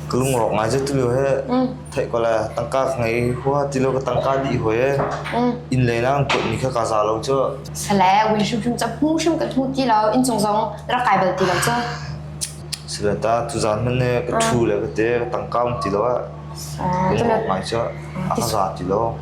Ka lungrawk ngai cu tilo he theih ko le tangka ka ngei hua tilo ka tangka dih hoi e inn lei lang tuat mi kha ka za lo cu. Sale win hrim hrim cap hmu hrim ka thu ti lo inn cung zong rak kai bal ti lo cu. Sale ta tu zan man ne ka thu le ka te ka tangka um ti lo ah. Leiba cu a ka za ti lo.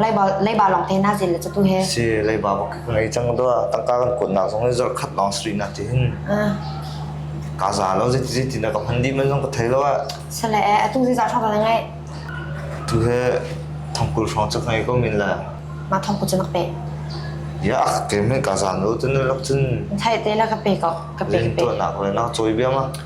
Leiba leiba lawng te na zin le tu he. Si leiba bak ka ngei cang do tangka kan kun nak zong zor khat long street na ti hin. Ka za lo zeti zeti na ka hman di man zong ka thei lo a. Sale atu zi za thong da ngai. Tu he thongkul thong cak ngai ko min la. Ma thongkul cak pe. Ya ke men ka za no tu na lak tun. Thai te la ka pe ko ka pe ka pe. Len tu nak le na choi bia ma.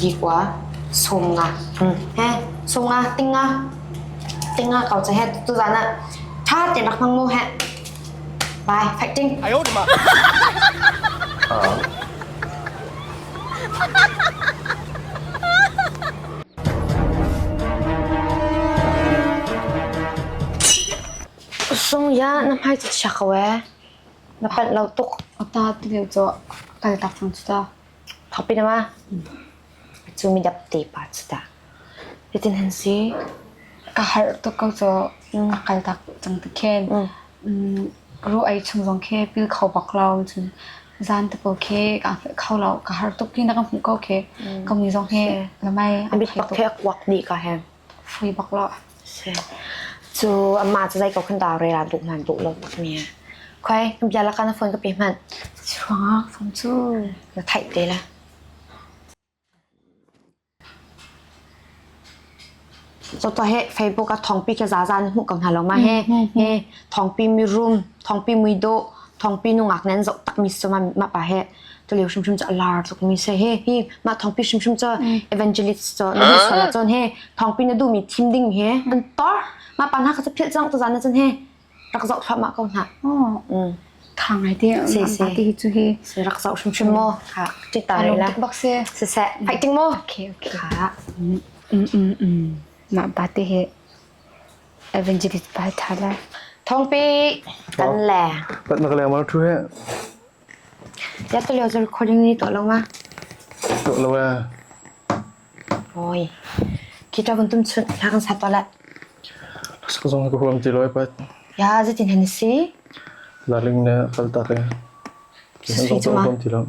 Likua sungah he sungah tinga tinga kau cha he tu zan ah ṭha te bak nang mu he bye fighting ai ot ma sung ya na hmai cu chia ko ee na panh lo tuk ta ti leu cu kal tak thang cu ta Khapi nama cu mi dap tepa cu dah. Hitin han si, ka harh tuk ko cu na kal tak cang ti khin. Ru ei chung zong khi pil kho bak lo. Cun zan te pawl khi ka hmuh kho lo. Ka harh tuk i na ka hmuh ko khi. Ka mi zong hi lamai a thei tuk. A bit bak khi a kuak dih ka he. fui bak lo. Cu amma cu zei ko kan dau re la duh man duh lo tak mi. Khoi bia la kan phone ka pe man. Chuanga phone cu na thai te la. Cota he Facebook a thongpi ke za zan mu ko hna lo ma he he thongpi mi room thongpi mui do thongpi nu ngak nen zo tak mi suma ma pa he ka leu hrimhrim cu a lar tuk mi se he hi mah thongpi hrimhrim cu evangelist cu na duh sal cun he thongpi na duh mi thim ding he an tor ma pan ha ka sa phil chang ta zan na cun he rak zau thwa ma ko na kha ngai te se se ti chu hi se rak zau hrim hrim mo kha ti ta le la bak se se se hai ting mo okay okay kha mm mm mm ma bate he evangelist ba tha la thongpi kan le pat na ka le ma thu he Tiah cu recording na i tuah lo ma? Tuah lo ee. Oi. Kita kan tum chun hla kan sa tuah la. Sak zong ka huam ti lo ee pat. Ya zetin hen si? Laling ne kal ta te. Ki zong ka huam ti lo.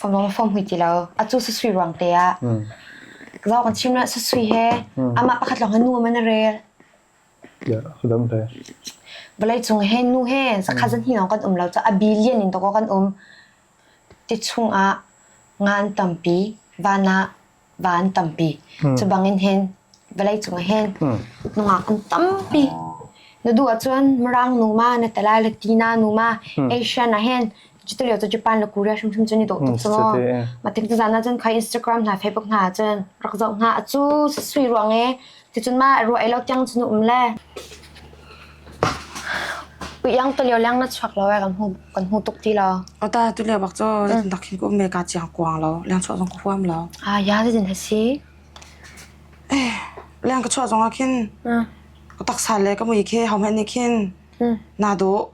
Fom lo fom hui ti lo. Atu sa sui ruang te ah. Zau kan chim na sa sui he. Ama pakhat long hanu man rel. Vawleicung he nu he zakhat zanhnih lawng kan um lo caah a billion in tawk kan um. Ti chungah nga an tampi, van ah va an tampi. Cubangin hen vawleicung hen nungak an tampi. Na duh ahcun Mirang nu ma, na Talai le Tina nu ma, Asian ah hen Cuti lio cu Japan le Korea hrimhrim cun i dawh tuk cu maw. Mah tik zan ah cun khai Instagram hna, Facebook hna cun rak zoh hnga a cu sui ruang e ticun ma ruah ei lo tiang cun um le. Iang to lio leng na chuak lo kan hmu kan hmu tuk ti lo. O ta tu leo bak cho dak hin ko me ka chiang kuang lo leng cho zong ka huam lo. Ah ya zin ha si. Eh leng ka cho zong a khin. Ko tak sa le ka mui khe hau me ni khin. Na do